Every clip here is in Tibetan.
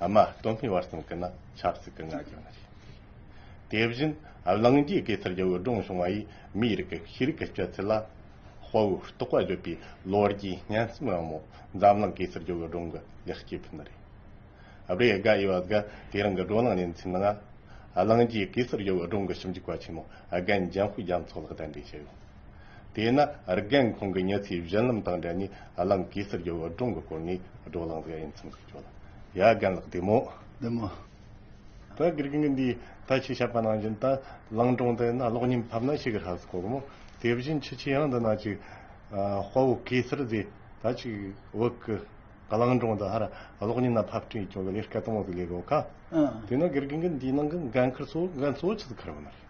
ཨ་མ་སྟོན་པའི་བར་གསུམ་གྱི་ནང་ཆབ་སྲིད་ཀྱི་ང་རྒྱལ་ནི་རེད། དེ་བཞིན་གླིང་རྒྱུད་ཀྱི་སར་ཡོད་སྒྲུང་གཞུང་བ་ཡིས་མིའི་རིགས་ཀྱི་ཤེས་རིག་གི་སྤྱོད་ཚུལ་ལ་དཔའ་བོའི་རྟོགས་པ་བརྗོད་པའི་ལོ་རྒྱུས་སྙན་རྩོམ་ཡང་མོ་འཛམ་གླིང་གི་སར་ཡོད་སྒྲུང་གི་ལེགས་སྐྱེས་ཕུལ་ནི་རེད། སྦྲེལ་དགའ་དབྱི་བ་སྒ་དེ་རིང་གི་བགྲོ་གླེང་ལས་འཛིན་ནང་གླིང་རྒྱུད་ཀྱི་སར་ཡོད་སྒྲུང་གི་ཞིབ་འཇུག་པ་ཆེན་མོ་རྒན་ལྗང་བུས་རྒྱ་མཚོ་ལགས་གདན་འདྲེན་བྱས་ཡོད། དེས་ན་རྒན་ཁོང་གི་མྱི་ཚེའི་བཞུན་ལམ་དང་འབྲེལ་ནས་བླ་མ་གེ་སར་རྒྱལ་བོའི་སྒྲུང་གི་སྐོར་ནས་བགྲོ་གླེང་བྱེད་ཨེ་འཚམ་ཞིག་བྱོས། ཡ་རྒན་ལགས་བདེ་མོ། བདེ་མོ། ད་དགེ་རྒན་གྱི་འདིའི་ད་ཆའི་བཤད་པ་ནང་བཞིན་ད་ལང་སྒྲུང་དེ་ན་ལོག་ཉིན་ཕབ་ན་ཤི་གི་ཧ་ཟི་གོ་གི་མོ། དེ་བཞིན་ཕྱི་ཆའི་ཡང་འདི་ན་ཅིག་དཔའ་བོ་གེ་སར་རྫས་ད་ཅིག་བོད་ཀྱི་ག་ལང་སྒྲུང་འདི་ཧ་ར་ལོག་ཉིན་ན་ཕབ་སྐྲུན་ཡི་ཅུང་གི་ལས་སྐལ་དང་བོ་ཟི་ལས་གོ་ཁ། དེས་ན་དགེ་རྒན་གྱི་འདིའི་ནང་གི་འགན་ཁུར་སོ་འགན་གཙོ་བོ་ཆི་ཟི་ཁར་བོ་ན་རེད།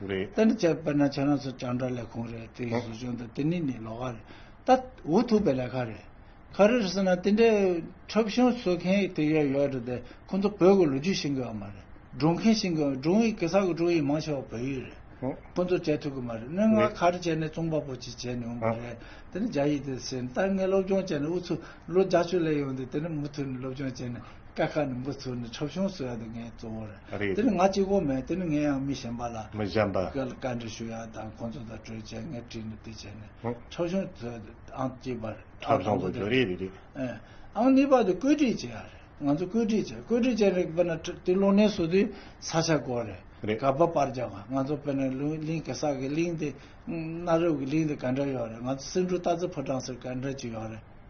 རེད། ད་ནི་དཔེར་ན་ཁྱེད་རང་ཚོ་སྤྱང་གྲགས་ལས་ཁུངས་རེད་དེ་གཟུགས་ཅན་དང་དེ་ནི་ནི་ལོག་ཁ་རེད། ད་འུ་ཐུག་པའི་ལས་ཁ་རེད། ཁ་རེད་ཟེར་ན་དེ་འདྲའི་འཁྲབ་གཞུང་བཟོ་མཁན་དེ་ཡོད་ཡོད་རེད་དེ་ཁོ་ཚོ་བོད་ཀྱི་ལོ་རྒྱུས་ཤེས་དགོས་ཀྱི་མ་རེད། སྒྲུང་མཁན་ཤེས་དགོས་སྒྲུང་ཡིག་གེ་སར་གྱི་སྒྲུང་ཡིག་མང་ཆེ་བ་བོད་ཡིག་རེད། ཁོ་ཚོ་བྱེད་ཐུབ་ཀྱི་མ་རེད། སྣོད་ངག་ཁར་བྱས་ནས་རྩོམ་པ་པོ་ཅིག་བྱས་ནས་འོང་གི་རེད། དེ་ནི་རྒྱ་ཡིག་དེ་ཟེར་ནས་ད་ངས་སློབ་སྦྱོང་བྱས་ནས་འུ་ཚོ་ལོ་བརྒྱ་ཅུ་ལས་ཡོང་དུས་དེ་ནི་མུ་མཐུད་ནས་སློབ་སྦྱོང་བྱས་ནས། སྐད་ཁ་ནིང་པོ་ཚུར་ནས་འཁྲབ་ཤོང་ཟེར་བ་དེ་ངའི་གཙོ་བོ་རེད། རེད། དེ་ནི་ང་གཅིག་པོ་མེད་དེ་ནི་ངས་ཡང་མི་གཞན་པ་ལ། མི་གཞན་པ། བཀའ་འདྲི་ཞུ་ཡག་དང་ཁོང་ཚོ་དང་གྲོས་བྱས་ངས་བྲིས་ནས་དེ་བྱས་ནས། ཧུང། འཁྲབ་ཤོང་ཚུར་ཨང་གཅིག་པ་རེད། འཁྲབ་ཤོང་དགོས་རྒྱུ་རེད་རེད། ཨེ། ཨང་གཉིས་པ་དེ་བཀོད་སྒྲིག་བྱས་ཡག་རེད་ང་ཚོ་བཀོད་སྒྲིག་བྱས་བཀོད་སྒྲིག་བྱས་ནས་དཔེར་ན་ཁྲི་དེ་ལོ་ནའི་ཟུར་དེ་ས་ཆ་སྐོར་རེད། རེད། ག་པ་པར་རྒྱག་པ་ང་ཚོ་དཔེར་ན་ལུང་གླིང་གེ་སར་གྱི་གླིང་དེ། གནའ་རབས་ཀྱི་གླིང་དེ་ག་འདྲ་ཡོད་རེད་ང་ཚོ་སེང་འབྲུག་སྟག་རྩེ་ཕོ་བྲང་ཟེར་ག་འདྲ་ཅིག་ཡོད་རེད།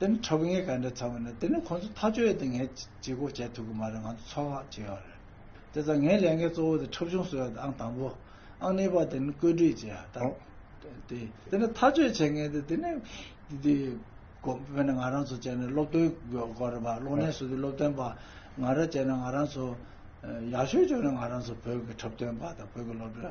དེ་ནི་ཁྲག་གི་ངད་ག་འདྲའི་ཚ་བ་ནི་དེ་ནི་ཁོ་ཚོ་ཐག་གཅོད་ཡས་དེ་ངས་བྱེད་སྒོ་བྱས་ཐུབ་གི་མ་རེད་ང་ཚོ་ཚོགས་ཁག་བྱས་ཡོད་རེད། དེ་ཚ་ངའི་ལས་འགན་གཙོ་བོ་དེ་འཁྲབ་གཞུང་བཟོ་ཡ་དེ་ཨང་དང་པོ། ཨང་གཉིས་པ་དེ་ནི་བཀོད་སྒྲིག་བྱེད་ཡ་དང། དེ་དེ་ནི་ཐག་གཅོད་བྱེད་མཁན་དེ་དེ་ནི་དེ་བོད་ནས་ང་རང་ཚོ་བྱས་ནས་སློབ་སྟོན་དགོས་རེད་པ་གློག་ཀླད་སོ་དེ་སློབ་སྟོན་པ་ང་རང་བྱས་ནས་ང་རང་ཚོ་ཡག་ཤོས་བྱུང་ནས་ང་རང་ཚོ་བོད་ཀྱི་འཁྲབ་སྟོན་པ་དང་བོད་ཀྱི་སློབ་གྲྭ།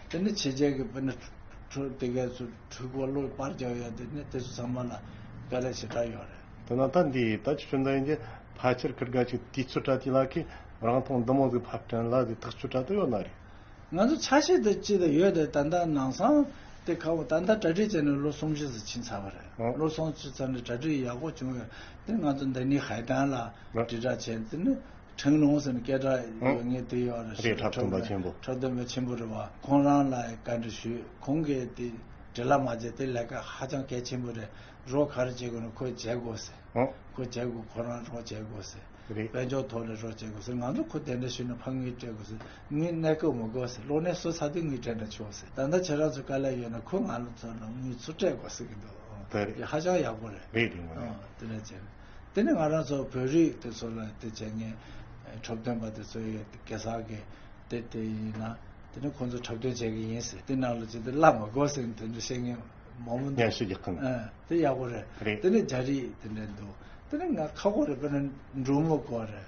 དེ་ནི་ཕྱི་རྒྱལ་གྱི་དཔོན་རིགས་ཁྲོད་དེ་གའི་ཚུལ་འཁྲུལ་འཁོར་ལོ་སྤར་རྒྱག་ཡ་དེ་ནི་དེ་ཚོ་ཚང་མ་ལ་དཀའ་ལས་ཞེ་དྲག་ཡོད་རེད། དེ་ནང་ད་འདི་ད་ཅི་ཆོན་ད་ཡིན་དེ་ཕལ་ཆེར་ཁིར་དགའ་ཅིག་དུས་ཚོད་དྲ་དེ་ལ་ཁིས་རང་ཐོང་འདི་མོ་ཟིག་ཕར་དྲན་ལ་དེ་ཐག་ཆོད་དྲ་དུ་ཡོད་ན་རེད། ང་ཚོ་ཆ་ཤས་དེ་ཅི་དང་ཡོད་དེ་ད་ལྟ་ནང་སང་དེ་ཁ་བོ་ད་ལྟ་གྲ་སྒྲིག་བྱས་ནས་ལོ་སུམ་བཞི་ཟིག་ཕྱིན་ཚར་བ་རེད་ལོ་སུམ་བཅུ་ཚར་ནས་གྲ་སྒྲིག་ཡག་པོ་བྱུང་ཡོད་དེ་ང་ཚོ་འདི་ནས་ཧའི་ཏན་ལ་དྲིལ་བསྒྲགས་བྱས་དེ་ནི་ཁྲེང་ལུང་ཟེར་ནི་སྐད་གྲགས་ཡོད་ངེས་དེ་ཡོད་རེད་ཞེས་པའི་འཕྲོག་འདོན་པ་ཆེན་པོ་རེད་བ་ཁོང་རང་ལ་བཀའ་འདྲི་ཞུས་ཁོང་གིས་དེ་འདྲི་ལ་མ་བྱེད་དེ་ལས་ཀ་ཧ་ཅང་གལ་ཆེན་པོ་རེད་རོགས་ག་རེ་བྱེད་དགོས་ན་ཁོས་བྱེད་དགོས་ཟེར་ཁོས་བྱེད་དགོས་ཁོ་རང་རོགས་བྱེད་དགོས་ཟེར་དཔལ་འབྱོར་ཐོག་ནས་རོགས་བྱེད་དགོས་ཟེར་ང་ཚོ་ཁོ་དེ་འདྲ་ཞུས་ན་ཕ་ངུས་སྤྲད་དགོས་ཟེར་ངུས་གནས་སྐབས་མི་དགོས་ཟེར་གློག་བརྙན་བཟོ་ཚར་དུས་ངུས་སྤྲད་ན་ཆོག་ཟེར་ད་ལྟ་ཁྱེད་རང་ཚོས་དཀའ་ལས་ཡོད་ན་ཁོས་ང་ལ་མཚོན་ན་ངུས་ཚུར་སྤྲད་དགོས་ཟེར་གྱི་འདུག་དེ་ཧ་ཅང་ཡག་པོ་རེད་དེ་འདྲ་བྱས་ན། དེ་ནི་ང་རང་ཚོ་བོད་རིགས་དེ་ཚོ་ལ་དེ་བྱས་ངན་འཁྲབ་སྟོན་པ་དེ་ཚོ་ཡོད་དེ་གེ་སར་གི་དེ་དེ་ཡིན་ན་དེ་ནི་ཁོང་ཚོ་འཁྲབ་སྟོན་བྱས་གི་ཡིན་ཟེར་དེ་རྣམས་ལ་ཇི་ལྟར་བླ་མ་དགོས་ཟེར་དེ་འདྲ་བཤད་ངན་མང་པོ་འདུག་ངན་ཤོས་ཀྱི་ཁུངས་ཨ་དེ་ཡག་པོ་རེད་རེད་དེ་ནི་རྒྱ་རིགས་དེ་འདྲ་འདུག་དེ་ནི་ང་ཁ་ཁོག་རེད་པེ་ན་འབྲུག་མོ་དགོས་རེད།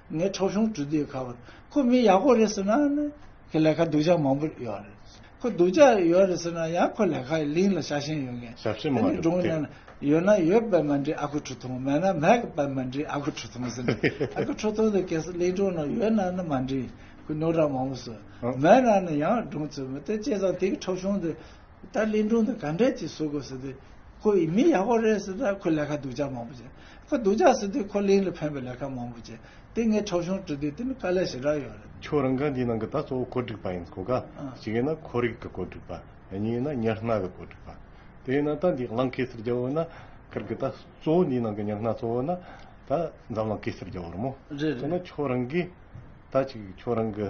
ངས་ཁྲོ་ཆུང་གྲུ་འདེགས་ཁ་བར་ཁོ་མི་ཡག་པོ་རེད་ཟེར་ན་ནི་ཁོས་ལས་ཁ་སྡུག་ཅག་མང་པོ་ཡོད་རེད། ཁོ་སྡུག་ཅག་ཡོད་རེད་ཟེར་ན་ཡང་ཁོ་ལས་ཁ་ལིང་ལ་ཤ་ཞེན་ཡོད་མཁན། ཞབས་ཕྱི་མ་རེད་དེ། ཡོད་ན་ཡོད་པའི་མ་འདྲེས་ཨ་ཁུ་ཁྲོ་ཐུང་མེད་ན་མེད་པའི་མ་འདྲེས་ཨ་ཁུ་ཁྲོ་ཐུང་ཟེར་ནས་ཨ་ཁུ་ཁྲོ་ཐུང་དེ་གལ་སྲིད་གླིང་སྒྲུང་ནང་ཡོད་ན་ནི་མ་འདྲེས་ཁོས་རྣོ་གྲངས་མང་པོ་བཟོས། མེད་ན་ནི་ཡང་སྒྲུང་བཙལ་མི་ཐུབ་བྱས་ཙང་དེ་གི་ཁྲོ་ཆུང་དེ། ད་གླིང་སྒྲུང་དེ་ག་འདྲས་ཅིག་བཟོ་དགོས་ཟེར་དུས། ཁོ་ཡིས་མི་ཡག་པོ་རེད་ཟེར་ད་ཁོས་ལས་ཀ་སྡུག་ཅག་མང་པོ་བྱས། ཁོ་སྡུག་ཅག་ཟེར་དུས་ཁོ་གླིང་ལ་ཕན་པའི་ལས་ཀ་མང་པོ་བྱས། དེ་ངས་འཁྲབ་གཞུང་བྲིས་དུས་དེ་ནི་དཀའ་ལས་ཞེ་དྲག་ཡོད་རེད། ཁྱོད་རང་གི་འདིའི་ནང་གི་ད་གཙོ་བོ་གོ་སྒྲིག་པ་ཡིན་གོ་ག་ཞིག་ཡིན་ན་ཁོར་ཡུག་གི་གོ་སྒྲིག་པ། གཉིས་ཡིན་ན་ཉར་སྣ་གི་གོ་སྒྲིག་པ། དེ་ཡིན་ན་ད་འདིའི་གླང་གེ་སར་རྒྱལ་བོ་ཡིན་ན་ཁར་གི་ད་གཙོ་བོ་འདིའི་ནང་གི་ཉར་སྣ་གཙོ་བོ་ཡིན་ན་ད་འཛམ་གླང་གེ་སར་རྒྱལ་བོ་རེད་མོ། རེད་རེད། དེ་ན་ཁྱོད་རང་གིས་ད་ཅིག་ཁྱོད་རང་གི།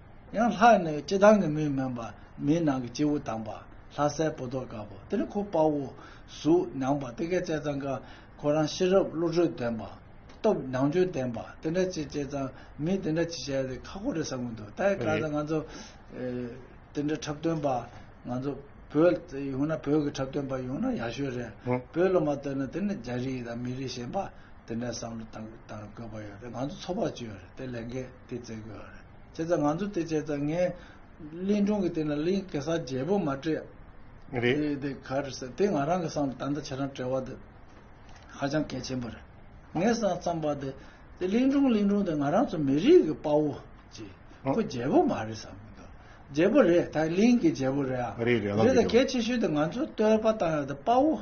ཡང་ལྷ་ནི་སྤྱི་དང་གི་མིང་མིན་པ། མིའི་ནང་གི་སྤྱི་བོ་དང་པ། ལྷ་སའི་བུ་ཏོ་དཀར་པོ། དེ་ནི་ཁོ་དཔའ་བོ། གཟུགས་མྱངས་པ། དེ་སྐད་ཅེས་ཙང་ཀ། ཁོ་རང་ཤེས་རབ་བློ་གྲོས་ལྡན་པ། སྟོབས་མྱང་འཇོན་ལྡན་པ། དེ་འདྲ་ཅེས་ཅེས་ཙང་མིས་དེ་འདྲ་ཅི་བྱས་ཏེ་ཁ་ཁོ་རེ་ཟ་ངོ་འདུག་ད་ཡི་ཀ་ད་ང་ཚོ། དེ་འདྲ་འཁྲབ་སྟོན་པ། ང་ཚོ། བོད་ཡོང་ན་བོད་ཀྱི་འཁྲབ་སྟོན་པ་ཡོང་ན་ཡག་ཤོས་རེད། བོད་སློབ་མ་བཏོན་ན་དེ་ནི་རྒྱ་རིགས་དང་མི་རིགས་གཞན་པ། དེ་འདྲ་བསམ་བློ་བཏང་དགོས་པ་ཡོད་རེད་ང་ཚོ་ཚོགས་པ་བཅུ་ཡོད་རེད་དེ་ལས་འགན་དེ་བརྩེ་དགོས་རེད། བྱས་ཙང་ང་ཚོ་དེ་བྱས་ཙང་ངས་གླིང་སྒྲུང་གི་སྟེང་ན་གླིང་གེ་སར་རྒྱལ་པོ་མ་བྲིས་རེད་དེ་ག་རེ་ཟེར་དེ་ང་རང་གི་བསམ་ད་ལྟ་ཁྱེད་རང་བྲེལ་བ་དེ་ཧ་ཅང་གལ་ཆེན་པོ་རེད་ངས་བསམ་བསམ་པ་དེ་དེ་གླིང་སྒྲུང་གླིང་སྒྲུང་དེ་ང་རང་ཚོ་མི་རིགས་ཀྱི་དཔའ་བོ་གཅིག་ཁོ་རྒྱལ་པོ་མ་རེད་བསམ་གི་འདུག་རྒྱལ་པོ་རེད་ད་གླིང་གི་རྒྱལ་པོ་རེད་ཨ་རེད་ད་གལ་ཆེ་ཤོས་དེ་ང་ཚོ་སྟོད་པ་དང་དཔའ་བོ་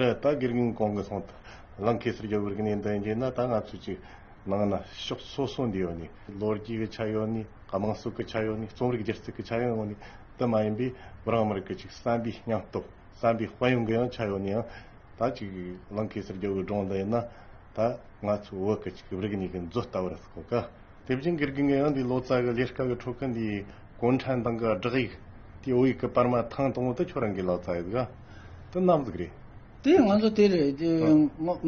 རེད་ད་དགེ་རྒན་གང་གི་སོང་ལང་གེ་སར་རྒྱབ་བར་གནས་འདི་འགྱེལ་ན་ད་ང་ཚོ་ཅིག་ནང་ན་ཕྱོགས་སོ་སོ་འདི་ཡོད་ནི་ལོ་རྒྱུས་གི་ཆ་ཡོད་ནི་ག་མང་སུ་གི་ཆ་ཡོད་ནི་རྩོམ་རིག་སྒྱུ་རྩལ་གི་ཆ་ཡོད་ཡོང་ནི་དེ་མ་ཡིན་པའི་རང་མི་རིགས་ཀྱི་ཅིག་བསམ་པའི་སྙང་སྟོབས་བསམ་པའི་དཔལ་ཡོན་གི་ཡང་ཆ་ཡོད་ནི་ཡང་ད་ཅིག་ལང་གེ་སར་རྒྱབ་བར་སྒྲོངས་འདི་ཡིན་ན་ད་ང་ཚོ་བོད་ཀྱི་ཅིག་རིག་གནས་གི་མཛོད་ལྟ་བུར་གོ་དཀའ། དེ་བཞིན་གིར་གིང་གི་ཡང་དེའི་ལོ་ཙཱ་གི་ལས་སྐལ་གི་འཕྲོ་ཁུ་འདིའི་གོང་ཁྲན་ཏང་གི་བསྒྲགས་ཡིག་དེའི་འོག་ཡིག་གི་པར་མ་ཐང་དང་པོ་དེ་ཁྱོད་རང་གི་ལོ་ཙཱ་ཡི་དགའ་དེ་རྣམ་གཟིགས་རེད། དེ་ང་ཚོ་དེར་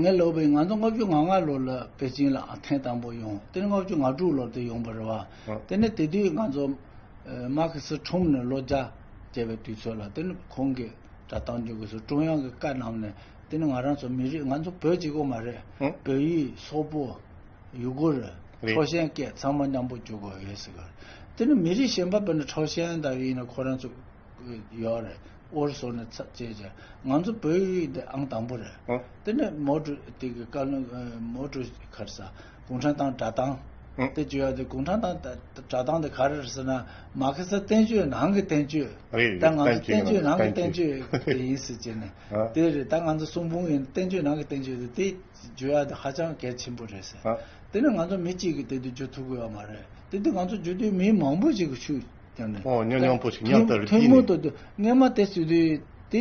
ངའི་ལོ་བའི་ང་ཚོ་ལྔ་བཅུ་ང་ལྔ་ལོར་ལ་པེ་ཅིང་ལ་ཐེངས་དང་པོ་ཡོང་དེ་ནི་ལྔ་བཅུ་ང་དྲུག་ལོར་དེ་ཡོང་པར་རེད་བ་དེ་ནི་དེ་དུས་ང་ཚོ་མཱ་ཁི་སི་ཁྲོམ་ནས་ལོ་བརྒྱ་བརྒྱད་པའི་དུས་ཚོད་ལ་དེ་ནི་ཁོང་གི་དྲ་ཐང་ཇུ་གུ་སུ་ཀྲུང་དབྱང་གི་བཀའ་གནང་ནས་དེ་ནི་ང་རང་ཚོ་མི་རིགས་ང་ཚོ་བོད་གཅིག་པོ་མ་རེད་བོད་ཡིག་སོག་པོ་ཡུ་གུར། ཁྲའོ་ཞན་སྐད་ཚང་མ་མཉམ་པོ་འཇུག་དགོས་ཡོད་ཟེར། དེ་ནི་མི་རིགས་གཞན་པ་བོད་ནི་ཁྲའོ་ཞན་ལྟ་བུ་ཡིན་ན་ཁོ་རང་ཚོ། ཡོད་རེད། ཨོར་སོར་ནས་ཚ་བཅད་བྱས། ང་ཚོ་བོད་ཡིག་འདི་ཨང་དང་པོ་རེད། དེ་ནི་མའོ་ཀྲུ་དེ་གི་བཀའ་བློན། མའོ་ཀྲུ་ཁར་ས། གུང་ཁྲན་ཏང་དྲ་ཐང། དེ་བཅོས་ཡག་དེ་གུང་ཁྲན་ཏང་དྲ་ཐང་དེ་ག་རེ་རེད་ཟེར་ན། མ་ཁེ་སི་བསྟན་བཅོས་ནང་གི་བསྟན་བཅོས། རེད་རེད་བསྟན་བཅོས་ནང་གི་བསྟན་བཅོས། ད་ང་ཚོ་བསྟན་བཅོས་ནང་གི་བསྟན་བཅོས་དེ་ཡིན་ཟེར་བྱས་ནས། དེ་རེད་ད་ང་ཚོ་གསུང་འབུམ་ཡིན་བསྟན་བཅོས་ནང་གི་བསྟན་བཅོས་དེ་དེ། བརྗོད་ཡ་དེ་ཧ་ཅང་གལ་ཆེན་པོ་རེད་ཟེར། དེ་ནི་ང་ཚོ་མི་གཅིག་གིས་དེ་དུས་བརྗོད་ཐུབ་དགོས་པ་མ་རེད། དེ་དུས་ང་ཚོ་བརྗོད་དུས་མི་མང་པོ་ཞིག་གིས་ཤུགས་བརྒྱབ་ནས། ཨོ་ཉོ་ཉོང་པོ་ཞིག་ཉམས་དང་རིག་གིས་ནི། ཐུན་མོང་དུ་དུས་སྔ་མ་དེ་བརྗོད་དུས་དེ་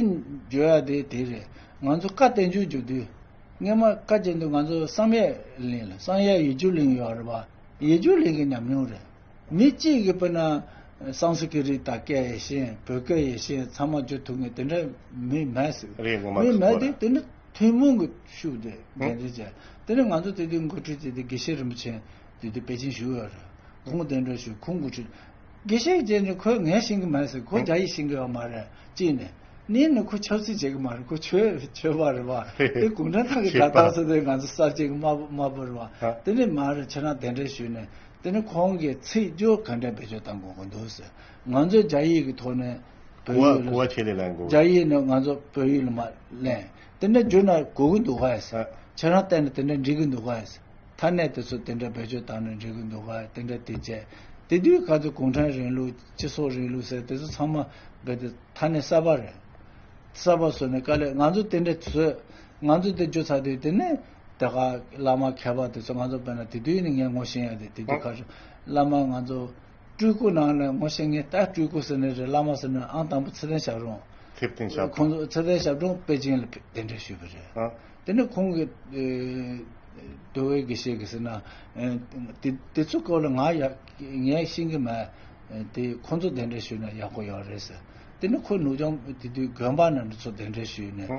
བརྗོད་ཡ་དེ་དེ་རེད། ང་ཚོ་བཀའ་བསྟན་འགྱུར་བརྗོད་དུས། སྔ་མ་བཀའ་བརྒྱད་དུས་ང་ཚོ་བསམ་ཡས་གླིང་ལ་བསམ་ཡས་ཡེ་འགྱུར་གླིང་ཡོད་རེད་པ། ཡེ་འགྱུར་གླིང་གི་ཉམས་མྱོང་རེད། མི་གཅིག་གིས་དཔེར་ན། སང་སི་ཀི་རིད་དང་སྐད་ཡེ་ཤེས་བོད་སྐད་ཡེ་ཤེས་ཚང་མ་བརྗོད་ཐུབ་ངེས་དེ་འདྲ་མི་མེད་ཟེར། རེད་ངོ་མ་ཁག་པོ་རེད། མི་མེད་དེ་དེ་འདྲ། ཐུན་མོང་གི་ཤུགས་དེ་འགན་འཛིན་བྱས། དེ་ནས་ང་ཚོ་དེ་དུས་འགོ་ཁྲིད་དེ་དུས་དགེ་བཤེས་རིན་པོ་ཆེ་དེ་དུས་པེ་ཅིན་བཞུགས་ཡོད་རེད། ཁོང་གཏན་གྲོལ་བྱུང་ཁོང་འགོ་ཁྲིད། དགེ་བཤེས་བཅས་ནི་ཁོས་ངའི་བཞིན་གྱི་མ་ཡིན་ཟེར་ཁོ་རྒྱ་ཡིག་བཞིན་གྱི་བ་མ་རེད་གཅིག་ནས། གཉིས་ནས་ཁོ་ཆབ་སྲིད་བྱེད་གི་མ་རེད་ཁོ་ཆོས་ཆོས་པ་རེད་བ། དེ་གུང་ཁྲན་ཐང་གི་སྒྲ་གདངས་སུ་དེ་ང་ཚོ་གསར་བརྗེ་གི་དམར་པོ་རེད་བ། དེ་ནས་མ་རེད་ཁྱེད་རང་གཏན་གྲོལ་བྱུང་ནས། དེ་ནས་ཁོང་གིས་ཚིག་སྦྱོར་ག་འདྲ་བེད་སྤྱོད་བཏང་དགོས་དགོས་འདུག་ཟེར། ང་ཚོས་རྒྱ་ཡིག་གི་ཐོག་ནས། གོ་བ་གོ་བ་ཆེ་ལས་ལ་འགོ་བ། རྒྱ་ཡིག་ནི་ང་ཚོ་བོད་ཡིག་ལ་མ་ལན། དེ་འདྲ་བསྒྱུར་ན་གོ་གི་འདུག་ག་ས། ཁྱེད་རང་ལྟས་ན་དེ་འདྲ་འགྲིག་གི་འདུག་ག་ས། མཐའ་གནད་དེ་ཚོ་དེ་འདྲ་བེད་སྤྱོད་བཏང་ན་འགྲིག་གི་འདུག་ག་དེ་འདྲ་དེ་བྱས། དེ་དུས་ག་ཚོད་གུང་ཁྲན་རིང་ལུགས་སྤྱི་ཚོགས་རིང་ལུགས་ཟེར་དེ་ཚོ་ཚང་མ་རྦད་དེ་མཐའ་གནད་གསར་པ་རེད། གསར་པ་བཟོས་ནས་ག་ལས་ང་ཚོ་དེ་འདྲ་བཟོས། ང་ཚོ་དེ་བསྒྱུར་ཚར་དུས་དེ་ནི་དེ་ག་བླ་མ་མཁས་པ་དེ་ཚོ་ང་ཚོ་བོད་ན་དེ་དུས་ནི་ངས་ངོ་ཤེས་ཡ་དེ་དེ་དུས་ག་བྱུང་བླ་མ་ང་ཚོ། སྤྲུལ་སྐུ་ནང་ནས་ངོ་ཤེས་ངེས་ད་སྤྲུལ་སྐུ་ཟེར་ནི་རེད་བླ་མ་ཟེར་ནི་ཨང་དང་པོ་ཚེ་བརྟན་ཞབས་རོང། ཚེ་བརྟན་ཞབས་དྲུང། ཁོང་ཚོ་ཚེ་བརྟན་ཞབས་དྲུང་པེ་ཅིང་ལ་གདན་འདྲེན་ཞུས་པ་རེད། ཨ། དེ་ནས་ཁོང་གིས། རྡོ་བའི་དགེ་བཤེས་ཀྱིས་ཟེར་ན། དེ་ཚོའི་སྐོར་ལ་ངའི་ཤེས་ཀྱི་མེད། དེ་ཁོང་ཚོ་གདན་འདྲེན་ཞུས་ན་ཡག་པོ་ཡོད་རེད་ཟེར། དེ་ནས་ཁོའི་ནུ་ཆུང་དེ་དུས་དགོན་པ་ནས་འདི་ཚོ་གདན་འདྲེན་ཞུས་ནས།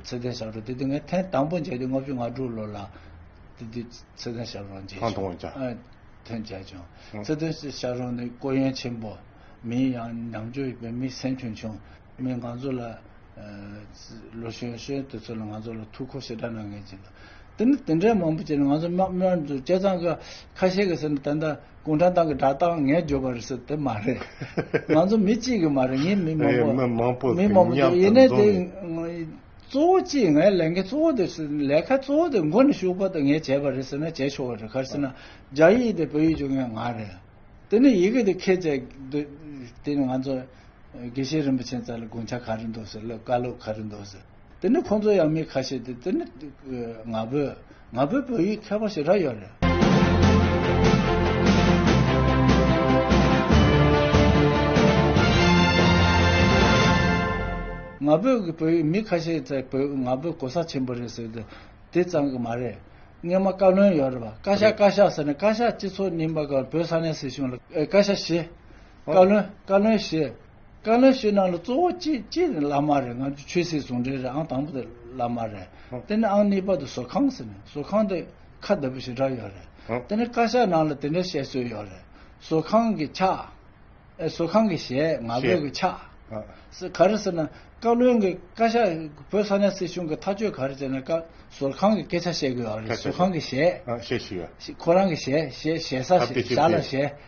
ཚེ་བརྟན་ཞབས་དྲུང་དེ་དུས་ངས་ཐེངས་དང་པོ་མཇལ་དུས་ལྔ་བཅུ་ང་དྲུག་ལོ་ལ། དེ་དུས་ཚེ་བརྟན་ཞབས་རོང་མཇལ་བྱུང། ཐོན་བྱས་བྱུང། ཚེ་དོན་སི་ཤ་རོང་ནི་སྐོར་གཡེང་ཆེན་པོ། མིན་ཡང་ནང་ཆོས་བོད་མི་སེམས་ཁྱོན་ཆུང། མི་འགང་ཚོ་ལ། ལོ་གཞོན་གཞོན་དེ་ཚོ་ལ་ང་ཚོ་ལ་ཐུགས་ཁུར་ཞེ་དྲག་གནང་མཁན་ཅིག་འདུག། དེ་ནི་དེ་འདྲའི་མང་པོ་བྱས་ནས་ང་ཚོ་དམག་དམག་འདུ་བྱས་ཙང་ཁ་ཁ་ཤས་ཀྱི་ཟེར་ན་ད་ལྟ་གུང་ཁྲན་ཏང་གི་སྒྲ་གཏང་ངས་བརྗོད་པ་རེད་ཟེར་དེ་མ་རེད། ང་ཚོ་མི་གཅིག་གི་མ་རེད་ངས་མི་མང་པོ། མི་མང་པོ་མི་མང་པོ་ཡིན་ནས་དེ། གཙོ་བོ་གཅིག་ངའི་ལས་འགན་གཙོ་བོ་དེ་ལས་ཀ་གཙོ་བོ་དེ་མགོ་ནས་ཤུགས་པ་དེ་ངས་བྱས་པ་རེད་ཟེར་ན་བྱས་ཆོག་གི་རེད་གར་སེ་ན་རྒྱ་ཡིག་དེ་བོད་ཡིག་ཆུང་ངའི་ངག་རེད་དེ་ནས་ཡི་གེ་དེ་ཁས་བཅད་དུས་དེ་ནས་ང་ཚོ་དགེ་བཤེས་རིན་པོ་ཆེན་ཙལ་དགུང་ཆ་ག་རེ་འདུག་ཟེར་བཀའ་སློབ་ག་རེ་འདུག་ཟེར་དེ་ནས་ཁོང་ཚོ་ཡང་མི་ཁ་ཤས་དེ་དེ་ནས་ང་བོས། ང་བོད་བོད་ཡིག་ཁྱད་པར་ཞེ་དྲག་ཡོད་རེད། ང་བོད་ཀྱི་བོད་ཡིག་མི་ཁ་ཤས་ཀྱིས་བོད་ང་བོད་གོ་ས་ཆེན་པོ་རེད་ཟེར་དུས་དེ་ཙམ་གྱི་མ་རེད། རྔན་མ་བཀའ་བློན་ཡོད་རེད་པ། བཀའ་ཤག་བཀའ་ཤག་ཟེར་ནས་བཀའ་ཤག་སྤྱི་ཚོགས་རྙིང་པ་གང་བོད་ས་གནས་སྲིད་གཞུང་ལ་བཀའ་ཤག་ཞེས། བཀའ་བློན་བཀའ་བློན་ཞེས། བཀའ་ལན་ཞུས་གནང་ལ་གཙོ་བོ་གཅིག་གཅིག་ནི་བླ་མ་རེད་ང་ཚོ་ཆོས་སྲིད་ཟུང་འབྲེལ་རེད་ཨང་དང་པོ་དེ་བླ་མ་རེད་དེ་ནས་ཨང་གཉིས་པ་དེ་བཟོ་ཁང་ཟེར་ནས་བཟོ་ཁང་དེ་ཁ་བདེ་པོ་ཞེ་དྲག་ཡོད་རེད་དེ་ནས་བཀའ་ཤག་ནང་ལ་དེ་འདྲའི་བཤད་སྲོལ་ཡོད་རེད་བཟོ་ཁང་གི་ཕྱག་ཨེ་བཟོ་ཁང་གི་ཞལ་ང་བོད་ཀྱི་ཕྱག་ཟེར་ག་རེ་ཟེར་ན་བཀའ་བློན་གྱི་བཀའ་ཤག་བོད་ས་གནས་སྲིད་གཞུང་གི་ཐག་གཅོད་ག་རེ་བྱས་ན་བཀའ་ཟོར་ཁང་གི་སྐད་ཆ་བཤད་དགོས་ཡོད་རེད་བཟོ་ཁང་གི་ཞལ་ཁོ་རང་གི་ཞལ་ཞལ་ཞལ་ས་ཞལ་ལ་ཞལ།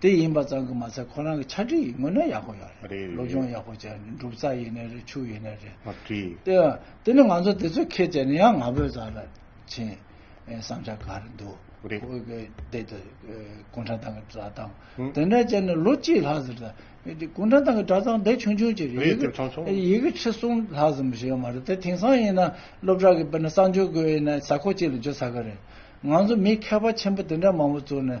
དེ་ཡིན་པ་ཙང་གི་མ་ཚད་ཁོ་རང་གི་ཆ་འགྲིག་ཡིན་དངོས་གནས་ཡག་པོ་ཡོད་རེད་སློབ་སྦྱོང་ཡག་པོ་བྱས་འདུག་འབྲུག་རྩ་ཡིན་ནི་རེད་ཆུ་ཡིན་ནི་རེད་མ་བྲིས་དེ་ཡང་དེ་ནི་ང་ཚོ་དེ་ཚོའི་ཁེ་བྱས་ནས་ཡང་ང་ཕོད་ཙང་ལ་བྱིན་བསམ་འཆར་ག་རེ་འདུག་རེད་ཁོ་གི་དེ་དེ་ཀུན་དྲང་ཐང་གི་སྒྲ་གདངས་ཧུན་དེ་འདྲ་བྱས་ནས་ལོ་གཅིག་ལྷག་ཟེར་ད་དེ་ཀུན་དྲང་ཐང་གི་སྒྲ་གདངས་དེ་ཆུང་ཆུང་ཅིག་རེད་ཡི་གེ་ཡི་གེ་ཁྲི་གསུམ་ལྷག་ཙམ་བྱས་ཡོད་མ་རེད་དེ་དེང་སང་ཡིན་ན་སློབ་གྲྭ་གི་དཔེར་ན་གསང་སྤྱོད་དགོས་ཡིན་ན་ས་ཁོག་གཅིག་ལ་བརྗོད་ཚར་གི་རེད་ང་ཚོ་མི་མཁས་པ་ཆེན་པོ་དེ་འདྲ་མང་པོ་བཙུགས་ནས་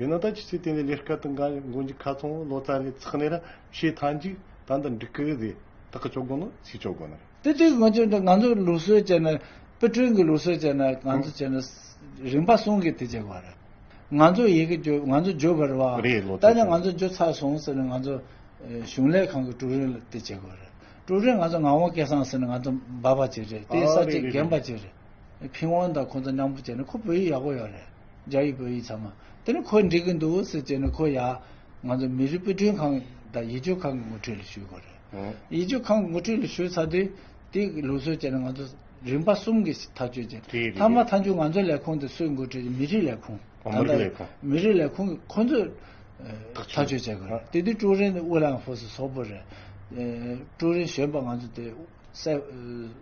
ཡོ་ནཱ་ཐཱན་གྱི་ཚེ་དེ་ནས་ལས་སྐལ་དང་གང་ཡང་མགོན་གྱི་ཁ་ཚོན་ལོ་ཙཱ་ནས་ཚགས་ནས་ར་ཤེས་ཐཱན་གཅིག་དང་དང་འགྲིག་གི་རེད་དག་གི་ཅོག་དགོན་ནོ་ཚིག་ཅོག་དགོན་ནར། དེ་དུས་ང་ཚོས་ང་ཚོའི་ལུགས་སྲོལ་བྱས་ན་པི་ཀྲུན་གྱི་ལུགས་སྲོལ་བྱས་ན་གང་ཚོ་བྱས་ན་རིམ་པ་གསུམ་གྱི་དེ་བྱས་པ་རེད། ང་ཚོ་ཡི་གེ་བརྗོད་ང་ཚོ་བརྗོད་པར་བ། རེད་ལོ་ཙཱ་ད་ནས་ང་ཚོ་བརྗོད་ཚར་སོང་ཟེར་ན་ང་ཚོ་གཞུང་ལས་ཁང་གི་ཀྲུའུ་རེན་ལ་དེ་བྱས་པ་རེད། ཀྲུའུ་རེན་ང་ཚོ་ངག་དབང་སྐལ་བཟང་ཟེར་ན་ང་ཚོ་འབའ་པ་བྱས་རེད་དེ་ས་བཅད་རྒན་པ་བྱས་རེད། ཕིང་ཝང་དང་ཁོང་ཚོ་མཉམ་པོ་བྱས་ནས་ཁོ་བོད་ཡིག་ཡག་པོ་ཡོད་རེད་རྒྱ་ཡིག་བོད་ཡིག་ཚང་མ་དེ་ནས་ཁོས་འགྲིག་གི་འདུག་ཟེར་བྱས་ནས་ཁོ་ཡ་ང་ཚོ་མི་རིགས་དཔེ་སྐྲུན་ཁང་དང་ཡིད་སྤྱོད་ཁང་གི་ངོ་འཕྲོད་ལས་ཞུས་དགོས་རེད་ཡིད་སྤྱོད་ཁང་གི་ངོ་འཕྲོད་ལས་ཞུས་ཚར་དུས་དེ་གི་ལུགས་སྲོལ་བྱས་ནས་ང་ཚོ་རིམ་པ་གསུམ་གི་ཐག་གཅོད་བྱས་རེད་རེད་ཐ་མ་མཐའ་མཇུག་ང་ཚོའི་ལས་ཁུངས་དེ་སུས་འགོ་ཁྲིད་བྱས་མི་རིགས་ལས་ཁུངས་མི་རིགས་ལས་ཁུངས་མི་རིགས་ལས་ཁུངས་ཁོ་ཚོས་ཐག་གཅོད་བྱེད་དགོས་རེད་དེ་དུས་ཀྲུའུ་རེན་ཨུ་ལའང་ཧྥོ་སི་སོག་པོ་རེད་ཀྲུའུ་རེན་གཞོན་པ་ང་ཚོ་དེ་སེ་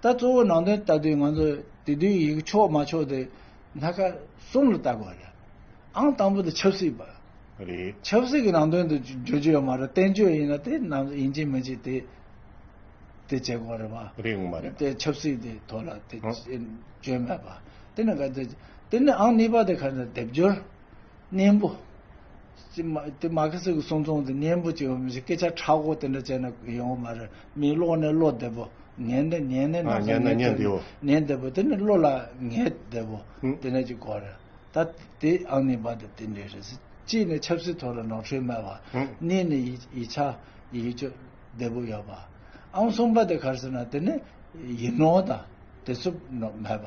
ད་གཙོ་བོ་ནང་དོན་ལྟ་དུས་ང་ཚོ་དེ་དུས་ཡིག་ཕྱོགས་མ་ཕྱོགས་དེ་སྣ་ཁ་གསུམ་ལ་ལྟ་དགོས་པ་རེད། ཨང་དང་པོ་དེ་ཆབ་སྲིད་པ། རེད། ཆབ་སྲིད་ཀྱི་ནང་དོན་དུ་བརྗོད་རྒྱུ་ཡོད་མ་རེད་བསྟན་བཅོས་ཡིན་ན་དེ་རྣམས་ཡིན་གཅིག་མིན་གཅིག་དེ་དེ་བྱེད་དགོས་པ་རེད་པ། རེད་ངོ་མ་རེད། དེ་ཆབ་སྲིད་དེ་ཐོག་ལ་དེ་བརྗོད་མེད་པ། དེ་ནི་ག་དེ་དེ་ནི་ཨང་གཉིས་པ་དེ་ག་ནི་སྡེབ་སྦྱོར་གཉེན་པོ། དེ་མ་ཁེ་སི་གི་གསུང་རྩོམ་དེ་གཉེན་པོ་གཅིག་ཡོང་མི་སྲིད་སྐད་ཆ་ཕྲག་དགུ་དེ་འདྲ་བྱས་ན་ཡོང་གི་མ་རེད་མི་ཀློག་ནི་ཀློག་བདེ་པོ། ཉན་ནི་ཉན་ནི་ནག་ཚ་ཉན་བདེ་པོ། ཉན་བདེ་པོ་དེ་ནི་བློ་ལ་ངེས་བདེ་པོ། དེ་འདྲ་གཅིག་གོ་རེད། ད་དེ་ཨང་གཉིས་པ་དེ་དེ་འདྲས་རེད། གཅིག་ནི་ཆབ་སྲིད་ཐོག་ལ་ནོར་འཁྲུལ་མེད་པ། གཉིས་ནི་ཡིད་ཆ་ཡིད་དཔྱོད་བདེ་པོ་ཡོད་པ། ཨང་གསུམ་པ་དེ་གར་ཟེར་ན་དེ་ནི་ཡིག་ནོར་དང་དེ་ཚོ་མེད་པ།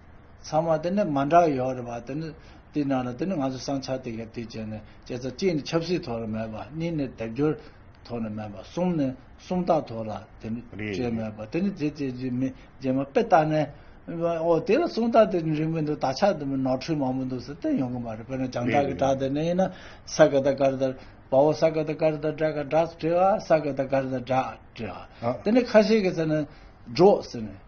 ཚང་མ་དེ་ནི་མ་འདྲ་བ་ཡོད་རེད་བ་དེ་ནི་དེའི་ནང་ལ་དེ་ནི་ང་ཚོ་སང་ཆ་དེ་ག་དུས་བྱས་ནས་བྱས་ཚ་གཅིག་ནི་ཆབ་སྲིད་ཐོག་ལ་མེད་པ་གཉིས་ནི་དལ་འབྱོར་ཐོག་ལ་མེད་པ་གསུམ་ནི་སུམ་རྟགས་ཐོག་ལ་དེ་ནི་བྱས་མེད་པ་དེ་ནི་དེ་དེ་རྗེས་མི་རྗེས་མ་དཔེ་བལྟ་ནས་ཨོ་དེ་ལ་སུམ་རྟགས་དེ་ནི་རིང་པོ་འདུག་དག་ཆ་དེ་མི་ནོར་འཁྲུལ་མང་པོ་འདུག་ཟེར་དེ་ཡོང་གི་མ་རེད་དཔེར་ན་བྱང་བྲག་གི་བྲག་དེ་ནི་ཡིན་ན་ས་ག་ད་གར་དར་བའོ་ས་ག་ད་གར་དར་བྲག་ག་བྲག་བྲེ་བ་ས་ག་ད་གར་དར་བྲག་བྲེ་བ་དེ་ནི་ཁ་ཤས་ཀྱི་ཚེ་ནི་འབྲོག་ཟེར་ནས།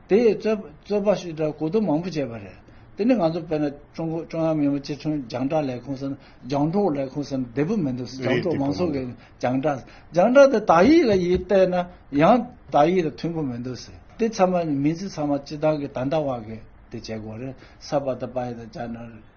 དེ་ཡི་རྩོད་པ་ཞིག་གོ་བསྡུར་མང་པོ་བྱས་པ་རེད། དེ་ནི་ང་ཚོ་དཔལ་ནཱ་ཀྲུང་གོ་ཀྲུང་དབྱང་མི་དམངས་སྤྱི་མཐུན་རྒྱང་བསྒྲགས་ལས་ཁུངས་སམ་རྒྱང་སྒྲོག་ལས་ཁུངས་སམ་བདེ་པོ་མི་འདུག་རྒྱང་སྒྲོག་མང་ཚོགས་ཀྱི་རྒྱང་བསྒྲགས་རྒྱང་བསྒྲགས་དེ་དག་ཡིག་ལ་ཡིག་བལྟས་ན་ཡང་དག་ཡིག་ལ་མཐུན་པོ་མི་འདུག་ཟེར། དེ་ཚང་མ་མིང་ཚིག་ཚང་མ་སྤྱི་བཏང་གི་ད་ལྟ་བར་གྱི་དེ་བྱེད་སྒོ་རེད་ས་པ་དང་པ་ཡི་དང་བྱ་ན།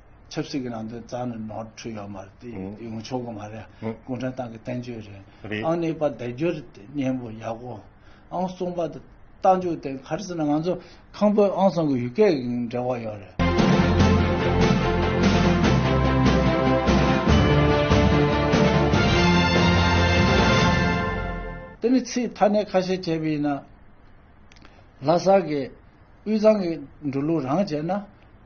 ཆབ་སྲིད་ཀྱི་ནང་དོན་རྩ་ནས་ནོར་འཁྲུལ་ཡོད་མ་རེད་དེ་ཡོང་ཆོག་གི་མ་རེད་གུང་ཁྲན་ཏང་གི་བསྟན་བཅོས་རེད་ཨང་གནས་པ་བདེ་སྦྱོར་སྙན་པོ་ཡག་པོ་ཨང་གསུངས་པ་དང་རྟ་མཇུག་སྟེ་ག་རེ་ཟེར་ན་ང་ཚོ་ཁང་པའི་ཨང་སང་གི་ཡུལ་སྐད་ཀྱི་འབྲེལ་བ་ཡོད་རེད། དེ་ནས་ཚིག་མཐའ་སྣེ་ཁ་ཤས་བྱས་པ་ཡིན་ན། ལྷ་ས་གི་དབུས་གཙང་གི་འགྲོ་ལུགས་རང་བྱས་ན།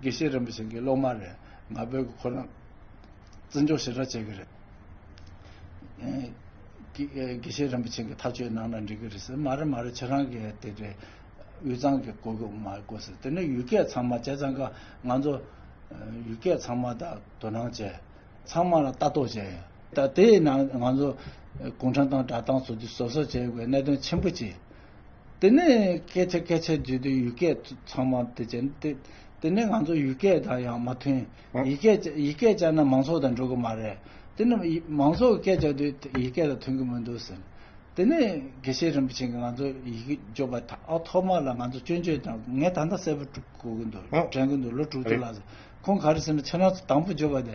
དགེ་བཤེས་རིན་པོ་ཆེ་འགའི་སློབ་མ་རེད། ང་བོད་ཀྱི་ཁོ་རང་བརྩི་འཇོག་ཞེ་དྲག་བྱེད་ཀྱི་རེད། དགེ་བཤེས་རིན་པོ་ཆེ་འགའི་ཐག་ཆོད་ནང་ན་འགྲིག་གི་རེད་ཟེར། མ་རེད་མ་རེད་ཁྱེད་རང་གི་དེ་འདྲའི་དབུས་གཙང་གི་གོ་སྐབས་མ་དགོས་ཟེར། དེ་ནས་ཡུལ་སྐད་ཚང་མ་བྱས་ཙང་ཀ་ང་ཚོ་ཡུལ་སྐད་ཚང་མ་དག་དོ་སྣང་བྱས། ཚང་མ་ལ་ལྟ་རྟོག་བྱས་ཡོད། ད་དེའི་ནང་ང་ཚོ་ཀུང་ཁྲན་ཏང་སྦྲག་ཏང་སོ་བདུན་བཟོ་གསར་བྱས་ཡོད་པའི་གནད་དོན་ཆེན་པོ་གཅིག་དེ་ནས་སྐད་ཆ་སྐད་ཆ་བརྗོད་དུས་ཡུལ་སྐད་ཚང་མ་དེ་བྱས། དེ་ནས་ང་ཚོ་ཡུལ་སྐད་དང་ཡང་མ་མཐུན། ཡིག་སྐད་ཡིག་སྐད་བྱས་ན་མང་ཚོགས་དང་འགྲོ་གི་མ་རེད། དེ་ནི་མང་ཚོགས་སྐད་བྱ་དུས་ཡིག་སྐད་དང་མཐུན་གི་མི་འདུག་ཟེར། དེ་ནས་དགེ་བཤེས་རིན་པོ་ཆེ་ང་ཚོ་ཡི་གེ་སྦྱོར་བ་ཐོག་མ་ལ་ང་ཚོ་སྐྱོན་བརྗོད་དང་ངས་ད་ལྟ་གསལ་པོ་གོ་གི་འདུག་དྲན་གི་འདུག་ལོ་དྲུག་ཅུ་ལ་ཁོང་ག་རེ་ཟེར་ན་ཕྱི་ནང་དང་པོ་སྦྱོར་བ་དེ་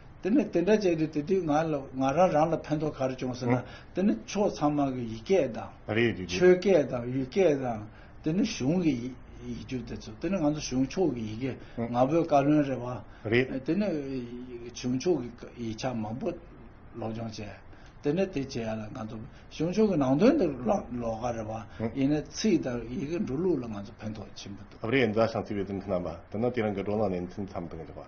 དེ་ནས་དེ་འདྲ་བྱས་ཏེ་དེ་དུས་ང་རང་རང་ལ་ཕན་ཐོགས་ག་རེ་བྱུང་ཟེར་ན། དེ་ནི་ཕྱོགས་ཚང་མ་གི་ཡིག་སྐད་དང། ཆོས་སྐད་དང་ཡུལ་སྐད་དང། དེ་ནི་གཞུང་གི་ཡིག་རྒྱུགས་དེ་ཚོ་དེ་ནི་ང་ཚོ་གཞུང་ཕྱོགས་ཀྱི་ཡི་གེ་ང་ཕོད་བཀའ་བློན་རེད་བ། དེ་ནི་གཞུང་ཕྱོགས་ཀྱི་ཡིག་ཆ་མང་པོ་སློབ་སྦྱོང་བྱས། དེ་ནས་དེ་བྱས་ལ་ང་ཚོ་གཞུང་ཕྱོགས་ཀྱི་ནང་དོན་དུ་ལོག་ག་རེ་བ། ཡིན་ནའི་ཚིག་དང་ཡི་གེ་འགྲོ་ལུགས་ལ་ང་ཚོ་ཕན་ཐོགས་ཆེན་པོ་འདུག།